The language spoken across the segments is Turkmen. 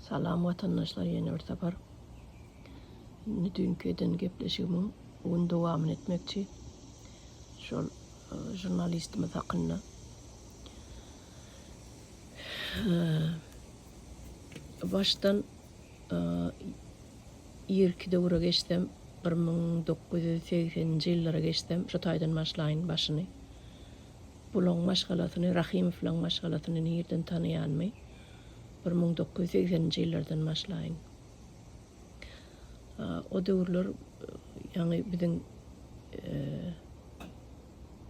Salam watandaşlar ýene bir sapar. Indi düýnki eden gepleşigimiň gün dowamyny etmekçi. Şol e, žurnalistimiz hakynda. E, başdan e, irki döwre geçsem 1980-nji ýyllara geçsem şu taýdan başlaýyn başyny. Bulaň maşgalasyny, Rahymowlaň maşgalasyny nirden tanaýanmy? Bir müň dokuz ýüz segseninji ýyllardan başlaýyn. O döwürler, ýaňy biziň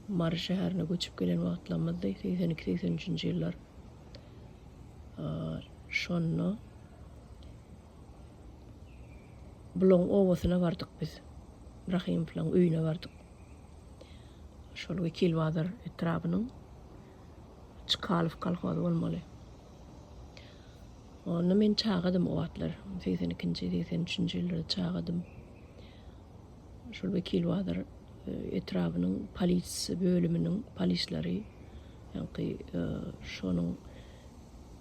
Mary şäherine göçüp gelen wagtlarymyzdy, segsen iki, segsen üçünji ýyllar. Şonda Bulaň obasyna bardyk biz. Rahymowlaň öýüne bardyk. Şol Wekilbazar etrabynyň Çkalow kolhozy bolmaly. Onda men çagadym o wagtlar. Segsen ikinji, segsen üçünji ýyllarda çagadym. Şol Wekilbazar e, etrabynyň polisiýa bölüminiň polislary ýaňky e, şonuň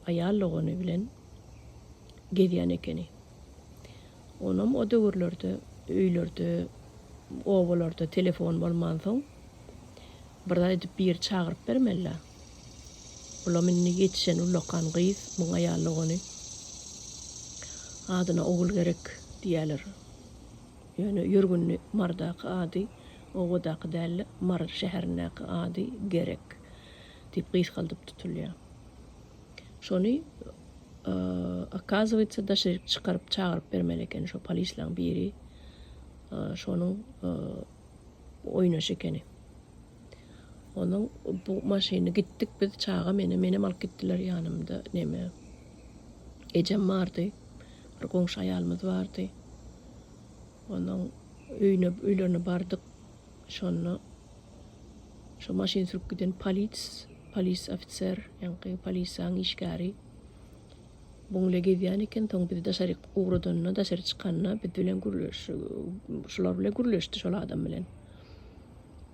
aýal dogany bilen gezýän ekeni. Onam o döwürlerde öýlerde, obalarda telefon bolmansoň, bir zat edip biri çagyryp bermeli-dä. Bulam indi ýetişen ullakan gyz, muň aýal dogany. Adyna Ogul gerek diýýäler. Ýöne ýörgünli Marydaky ady obadaky däl-de, Mary şäherindäki ady Gerek diýip gysgaldyp tutulýar. Şony okazywaýtsa daşa çykaryp çagyryp bermeli ekeni şo polislaň biri şonuň oýnaşy ekeni. Onuň bu maşyny gitdik biz çaga meni menem alyp gitdiler ýanymda neme ejem bardy. Bir goňşy aýalymyz bardy. Onuň öýüne öýlerine bardyk. Şonda şo maşyn sürüp giden polis, polis ofiser, ýaňky polisiýaň işgäri bu ile gezýän eken, soň bizi daşaryk ugradanda, daşary çykanda biz bilen gürleşdi, şular bilen gürleşdi, şol adam bilen.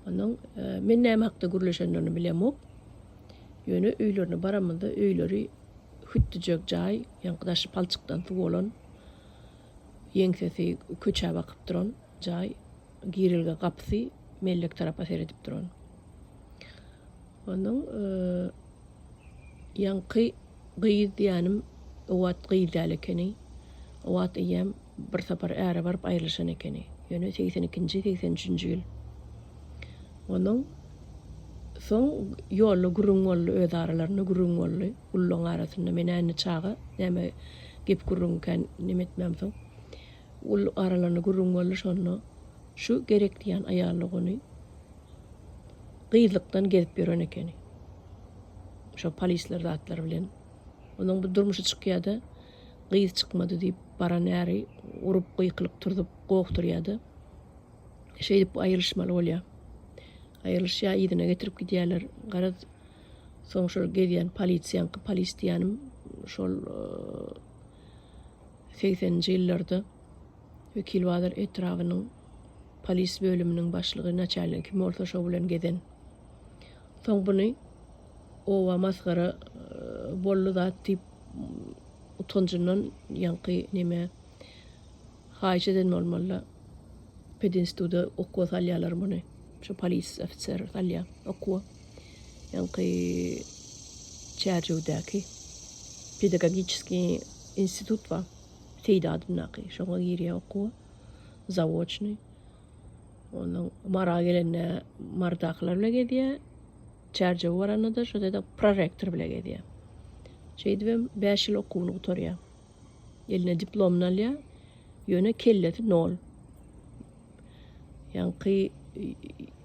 Ondan men näme hakda gürleşenlerini bilemok. Ýöne öýlerine baramyzda öýleri hütdüjek jaý, ýaňky daşy palçykdan suw bolan, ýeňsesi köçä bakyp duran jaý. girilge gapysy mellek tarapa seredip duran. Onuň e, ýaňky gyz diýänim o wagt gyz däl ekeni. O wagt eýýäm bir sapar äre baryp aýrylyşan ekeni. Ýöne 82-83-nji ýyl. Onuň soň ýolda gürrüň boldy, öz aralarynda gürrüň boldy. Ullaryň arasynda men indi çaga, näme gep gürrüňkän neme etmämsoň. Ol aralandy gürrüň boldy şonda şu gerek diýýän aýallyk ony gyzlykdan gezip ýören ekeni şo polisler zatlar bilen onuň bir durmuşy çykýada gyz çykmady diýip baran äri urup gykylyp turzup gowukdyrýada şeýdip aýrylyşmaly bolýa aýrylyşýa yzyna getirip gidýäler garaz soň şol gezýän polisiýaňky polis diýýänim şol Segseninji ýyllarda Wekilbazar etrabynyň polis bölüminiň başlygy, naçalnigi kim bolsa şo bilen gezen. Soň buny oba masgara boldy zat diýip utanjyndan ýaňky neme haýyş eden bolmaly-da pedinstuda okuwa salýarlar muny. Şo polis ofiser salýar okuwa. ýaňky Çärjewdäki pedagogiçeskiý institut bar, Seýdi adyndaky, şoňa girýän okuwa, zawoçnyý. Ondan Mara gelende Mardakylar bilen gezýär, Çärjewe baranda-da şo ýerde prorektor bilen gezýär. Şeýdibem bäş ýyl okuwyny gutarýar. Eline diplomyny alýar. Ýöne kellesi nol. Ýaňky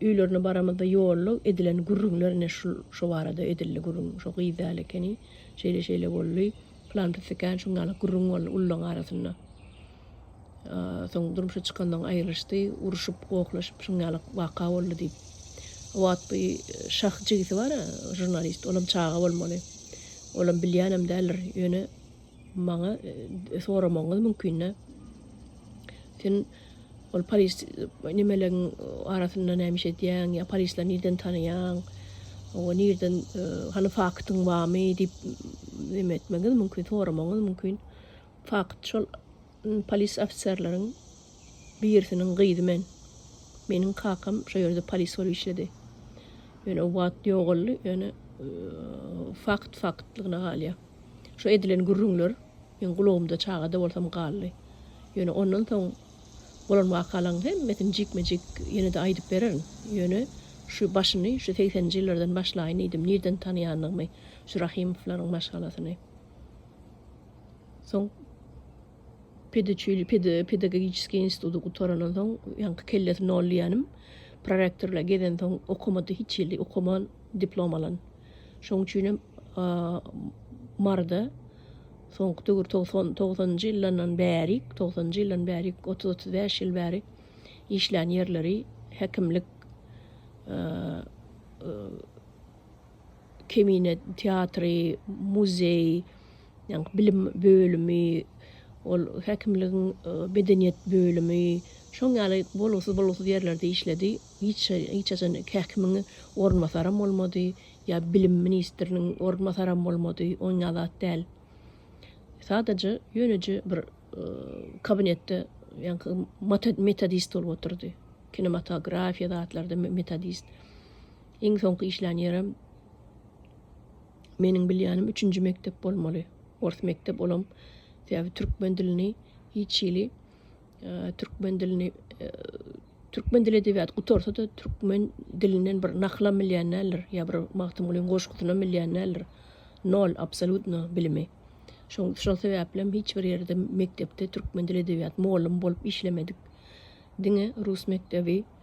öýlerine baramyzda ýolda edilen gürrüňler ine şul şo barada edildi gürrüň. Şo gyz däl ekeni. Şeýle-şeýle boldy. Pylan pislikän şuň ýaly gürrüň boldy ullaryň arasynda. Soň durmuşa çykandan aýrylyşdy. Uruşyp, gohlaşyp şuň ýaly waka boldy diýip. O wagt bu Şah jigisi bar-a, žurnalist. Olam çaga bolmaly. Olam bilýänem däldir. Ýöne Maňa soramagyňyz mümkinde sen ol polis nimeleň arasynda näme iş edýäň ýa polisleri nirden tanaýaň oňa nirden e, hany faktyň barmy diýip neme etmegiňiz mümkin soramagyňyz mümkin fakt şol Polis ofiserleriň birisiniň gyzy men. Meniň kakam şo ýerde polis bolup işledi. Ýöne o wagt ýogaldy, ýöne fakt faktlygyna galýar. Şo edilen gürrüňler meň gulagymda çaga-da bolsam galdy. Ýöne ondan soň bolan wakalaryň hemmesini jikme-jik ýene-de aýdyp bererin. Ýöne şu başyny şu segseninji ýyllardan başlaýyn diýdim, nirden tanaýandygymy şu Rahimowlaryň maşgalasyny. Soň pedagogiçeskiý instituty gutarandan soň, ýaňky kellesi nol diýýänim, prorektor bilen gezensoň okamady, hiç ýyl okaman diplom alan. Şonuň üçinem Maryda soňky döwür togsan, togsanynjy ýyllardan bärik, togsanynjy ýyldan bärik, otuz-otuz bäş ýyl bäri işlän ýerleri häkimlik Kemine teatry, muzeý, ýa-ni bilim bölümi, ol häkimligiň medeniýet bölümi, şoň ýaly bolgusyz-bolgusyz ýerlerde işledi. Hiç hiç haçan häkimiň orunbasaram bolmady, ýa bilim ministriniň orunbasaram bolmady, oň ýaly zat däl. Sadaja ýöneje bir kabinetde ýa-ni metodist bolup otyrdy. Kinematografiýa zatlarda metodist. Iň soňky işlän ýerim meniň bilýänim üçünji mekdep bolmaly. Ors mekdep olam sebäbi türkmen dilini hiç hili türkmen dilini türkmen dili edebiýat gutarsa da türkmen dilinden bir naklam bilýän däldir ýa bir Magtymgulyň goşgusyny bilýän däldir. Nol absolutno bilimi. Şoň şol sebäplem hiç bir ýerde mekdepde türkmen dili edebiýat mugallym bolup işlemedik. Diňe rus mekdebi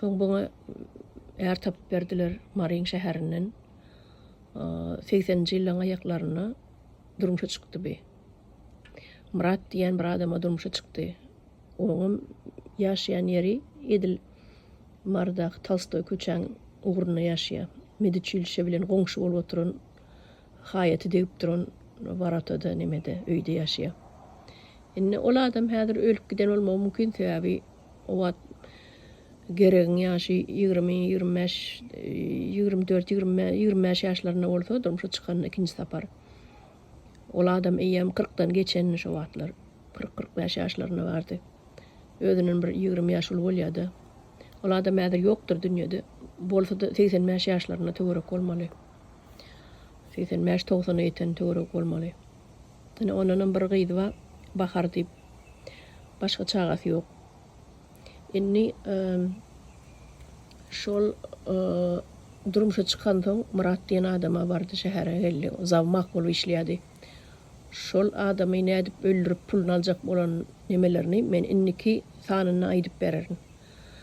Soň bana är tapyp berdiler Marin şäherinden. 80-nji ýyllaryň aýaklarynda durmuşa çykdy bi. Myrat diýen bir adama durmuşa çykdy. Oňam ýaşaýan ýeri edil Marydaky Tolstoý köçäň ugrunda ýaşaýar. Mediçilişe bilen goňşy bolup oturan haýaty degip duran worotada nemede öýde ýaşaýar. Indi ol adam häzir ölüp giden bolmagy mümkin, sebäbi O wagt Geregiň ýaşy ýigrimi, ýigrimi bäş, ýigrimi dört, ýigrimi bäş, ýigrimi bäş ýaşlarynda bolsa, durmuşa çykanda ikinji sapar. Ol adam eýýäm kyrkdan geçendi şo wagtlar. Kyrk, kyrk bäş ýaşlarynda bardy. Özünden bir ýigrimi ýaş uly bolýa-da. Ol adam häzir ýokdur dünýede. Bolsa-da, segsen bäş ýaşlarynda töwerek bolmaly. Segsen bäş, togsana ýeten töweregi bolmaly. Ýöne ondanam bir gyzy bar, Bahar diýip. Başga çagasy ýok. Indi şol durmuşa çykansoň, Myrat diýen adama bardy, şähere geldi. Zawmak bolup işleýärdi. Şol adamy nädip öldürip, puluny aljak bolan nemelerini men indiki sanynda aýdyp bererin.